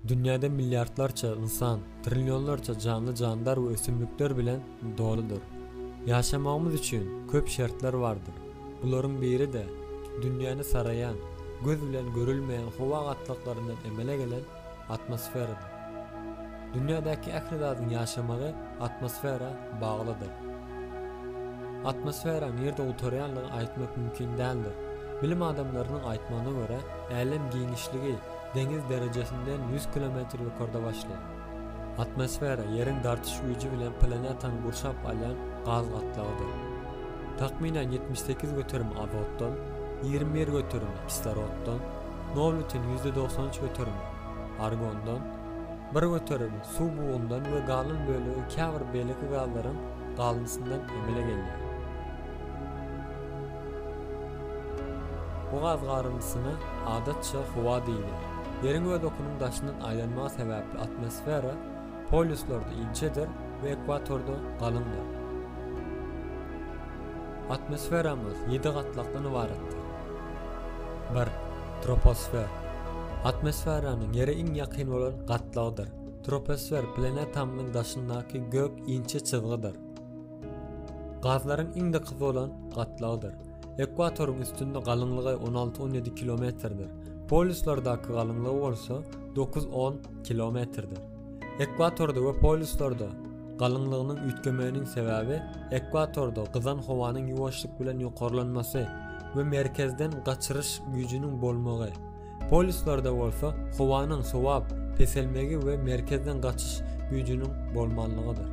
Dünýäde milliardlarça ynsan, trillionlarça janly-jandar we ösümlikler bilen doludyr. Ýaşamagymyz üçin köp şertler bardyr. Bularyň biri-de, dünýäni saraýan, göz bilen görülmeýän howa gatlaklaryndan emele gelen atmosferadyr. Dünýädäki ähli zadyň ýaşamagy atmosfera baglydyr. Atmosfera nirde gutarýanlygy aýtmak mümkin däldir. Bilim adamlarynyň aýtmagyna görä, älem giňişligi deňiz derejesinden ýüz kilometr ýokarda başlaýar. Atmosfera Ýeriň dartyş güýji bilen planetany gurşap alýan gaz gatlagydyr. Takmynan ýetmiş sekiz göterim azotdan, ýigrimi bir göterimi kisloroddan, nol bütin ýüzde dogsan üç göterimi argondan, bir göterimi suw bugundan we galan bölegi käbir beýleki gazlaryň galyndysyndan emele gelýär. Bu gaz garyndysyna adatça howa diýilýär. Ýeriň öz okunyň daşyndan aýlanmagy sebäpli atmosfera polýuslarda inçedir we ekwatorda galyňdyr. Atmosferamyz ýedi gatlakdan ybaratdyr. 1. Troposfer. Atmosferanyň Ýere iň ýakyn bolan gatlagydyr. Troposfer planetamyzyň daşyndaky gök inçe çyzgydyr. Gazlaryň iň dekyzy bolan gatlagdyr. Ekwatoryň üstünde galyňlygy on alty-on ýedi kilometrdir, polýuslardaky galyňlygy bolsa dokuz-on kilometrdir. Ekwatorda we polýuslarda galyňlygynyň üýtgemeginiň sebäbi ekwatorda gyzan howanyň ýuwaşlyk bilen ýokarlanmasy we merkezden gaçyryş güýjüniň bolmagy, Polislarda bolsa howanyň sowap peselmegi we merkezden gaçyş güýjüniň bolmanlygydyr.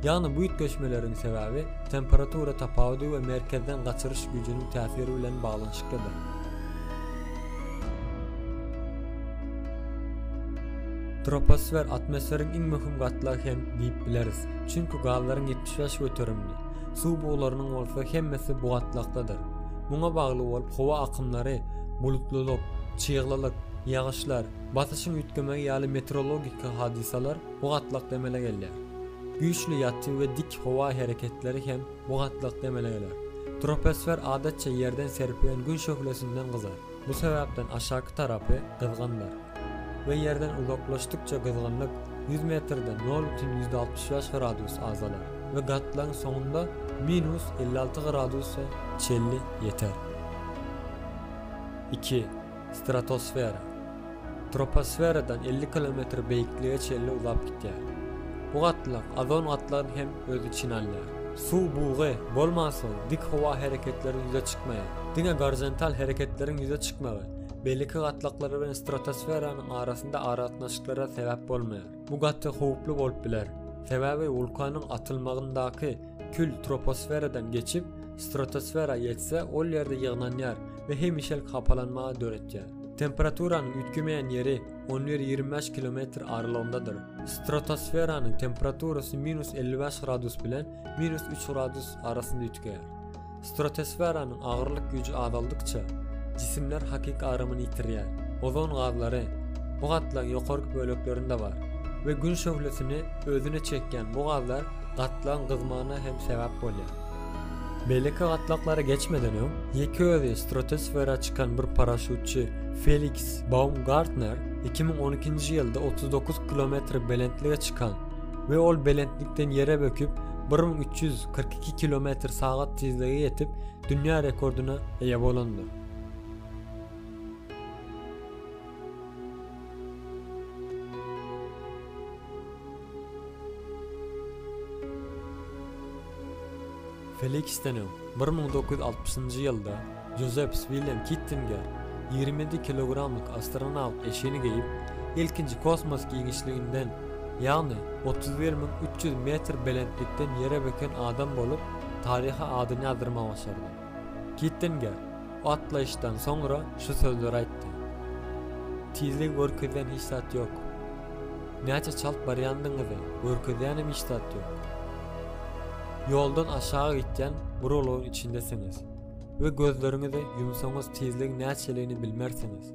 Ýagny bu üýtgeşmeleriň sebäbi temperatura tapawudy we merkezden gaçyryş güýjüniň täsiri bilen baglanyşyklydyr. Troposfer atmosferiň iň möhüm gatlagy hem diýip bileris, çünki gazlaryň ýetmiş bäş göterimini, suw buglarynyň bolsa hemmesi bu gatlakdadyr. Muňa bagly bolup howa akymlary, bulutlylyk, çyglylyk, ýagyşlar, basyşyň üýtgemegi ýaly meteorologik hadysalar bu gatlakda emele gelýär. Güýçli ýatyn we dik howa hereketleri hem bu gatlakda emele geler. Troposfer adatça ýerden serpilen gün şöhlesinden gyzar. Bu sebäpden aşaky tarapy gyzgyndyr we ýerden uzaklaşdykça gyzgynlyk ýüz metrde nol bütin ýüz altmyş bäş gradus azalar we gatlagyň soňunda minus elli alty gradusa çenli ýeter. Iki. Stratosfera. troposferadan elli kilometr beýiklige çenli uzap gitýär. Bu gatlag ozon gatlagyny hem öz içine alýar. Suw bugy bolmansoň dik howa hereketleri ýüze çykmaýar. Diňe gorizontal hereketleriň ýüze çykmagy beýleki gatlaklar bilen stratosferanyň arasynda aragatnaşyklara sebäp bolmaýar. Bu gaty howply bolup biler, sebäbi wulkanyň atylmagyndaky kül troposferadan geçip, stratosfera ýetse ol ýerde ýygnanýar we hemişelik hapalanma döretýär. Temperaturanyň üýtgemeýän ýeri on bir, ýigrimi bäş kilometr aralygyndadyr. Stratosferanyň temperaturasy minus elli bäş gradus bilen minus üç gradus arasynda üýtgeýär. Stratosferanyň agyrlyk güýji azaldykça, jisimler hakyky agramyny ýitirýär. Ozon gazlary bu gatlagyň ýokarky böleklerinde bar we Gün şöhlesini özüne çekýän bu gazlar gatlagyň gyzmagyna hem sebäp bolýar. Beýleki gatlaklara geçmeden öň, ýeke özi stratosfera çykan bir paraşýutçy Feliks Baumgartner iki müň on ikinji ýylda otuz dokuz kilometr belentlige çykan we ol belentlikden ýere böküp, bir müň üç ýüz kyrk iki kilometr sagat tizlige ýetip, dünýä rekordyna eýe bolandyr. Feliksden öň, bir müň dokuz ýüz altmyşynjy ýylda Jozepps Willem Kittinger ýigrimi ýedi kilogramlyk astronawt eşigini geýip, ilkinji kosmos giňişliginden, ýagny otuz bir müň üç ýüz metr belentlikden ýere böken adam bolup, taryha adyny ýazdyrmagy başardy. Kittinger otlaýyşdan soňra şu sözleri aýtdy. Tizligi görkezýän hiç zat ýok. Näçe çalt barýandygyňyzy görkezýänem hiç zat ýok. Ýoldan aşaga gitýän guralagyň içindesiňiz we gözleriňizi ýumsaňyz tizligiň näçeligini bilmersiňiz.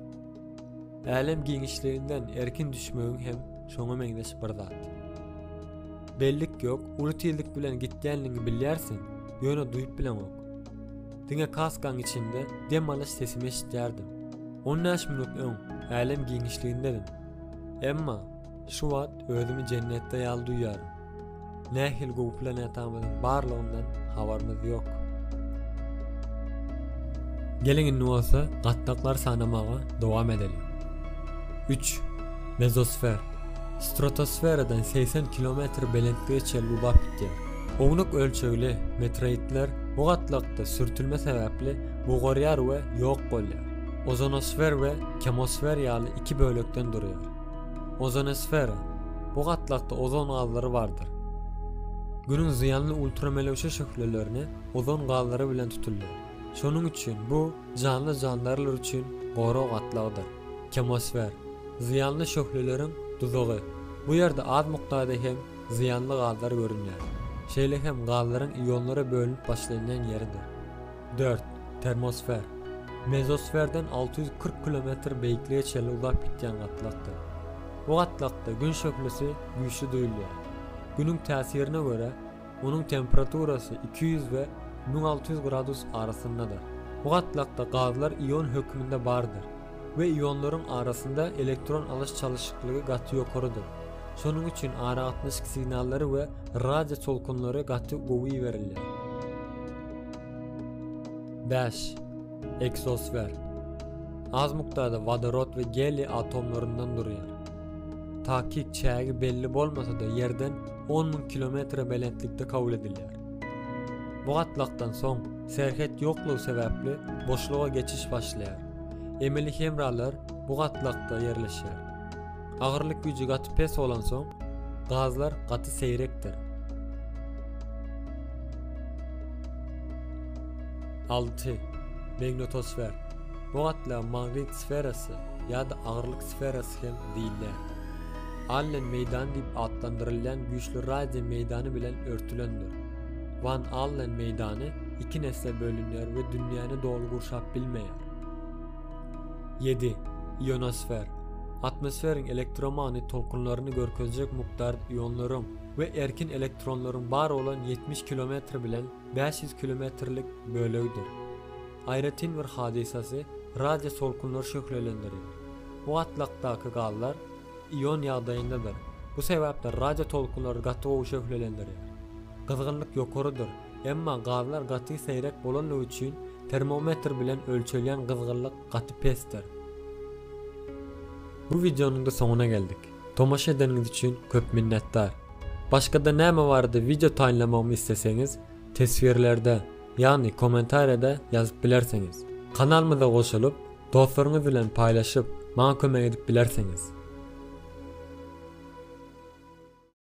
Älem giňişliginden erkin düşmegiň hem şoňa meňzeş bir zat. Bellik ýok, uly tizlik bilen gitýänligiňi bilýärsiň, ýöne duýup bileňok. Diňe kaskaň içinde dem alyş sesimi eşitýärdim. On bäş minut öň älem giňişligindedim. Emma Şu wagt özümi jennetde ýaly duýýaryn. Nähili gowy planetamyzyň barlygyndan habarymyz ýok. Geliň indi bolsa gatlaklary sanamaga dowam edeliň. 3. Mezosfer. Stratosferadan 80 kilometr belentlige çenli ulap gitýär. Ownuk ölçegli meteoritler bu gatlakda sürtülme sebäpli bugarýar we ýok bolýar. Ozonosfer we kemosfer ýaly iki bölekden durýar. Ozonosfera, bu gatlakda ozon gazlary bardyr. Günüň zyýanly ultramelewşe şöhlelerini ozon gazlary bilen tutulýar. Şonuň üçin bu janly-jandarlar üçin gorag gatlagydyr. Kemosfer, zyýanly şöhleleriň duzagy, bu ýerde az mukdarda hem zyýanly gazlar görünýär, şeýle hem gazlaryň ionlara bölünip başlanýan ýeridir. Dört, termosfer. Mezosferden alty ýüz kyrk kilometr beýiklige çenli uzap gitýän gatlakdyr. Bu gatlakda Gün şöhlesi güýçli duýulýar. Günüň täsirine görä, onuň temperaturasy iki ýüz we müň alty ýüz gradus arasyndadyr. Bu gatlakda gazlar ion hökmünde bardyr we ionlaryň arasynda elektron alyş-çalyşyklygy gaty ýokarydyr. Şonuň üçin aragatnaşyk signallary we radio tolkunlary gaty gowy iberilýär. Bäş. Eksosfer. Az mukdarda wodorod we geliý atomlaryndan durýar. Takyk çägi belli bolmasa-da ýerden on müň kilometre belentlikde kabul edilýär. Bu gatlakdan soň serhet ýoklugy sebäpli boşluga geçiş başlaýar. Emeli hemralar bu gatlakda ýerleşýär. Agyrlyk güýji gaty pes bolansoň, gazlar gaty seýrekdir. Alty. Magnetosfer. Bu gatla magnit sferasy ýa-da agyrlyk sferasy hem diýilýär. Allen meýdany diýip atlandyrylýan güýçli radio meýdany bilen örtülendir. Wan Allen meýdany iki nesle bölünýär we dünýäni doly gurşap bilmeýär. Ýedi, ionosfer, atmosferiň elektromagnit tolkunlaryny görkezjek mukdar ionlaryň we erkin elektronlaryň bar bolan ýetmiş kilometr bilen bäş ýüz kilometrlik bölegidir. Aýratyn bir hadysasy radio tolkunlar şöhlelendiri. Bu gatlakdaky gazlar ion ýagdaýyndadyr, bu sebäpli radio tolkunlary gaty gowy şöhlelendirýär. Gyzgynlyk ýokarydyr. Emma gazlar gaty seýrek bolandygy üçin termometr bilen ölçelýän gyzgynlyk gaty pesdir. Bu wideonyňda soňuna geldik. Tomaşa edeniňiz üçin köp minnetdar. Başgada näme barada wideo taýynlamagymy isleseňiz teswirlerde, ýagny kommentariýada ýazyp bilersiňiz. Kanalymyza goşulyp, dostlaryňyz bilen paýlaşyp, maňa kömek edip bilersiňiz.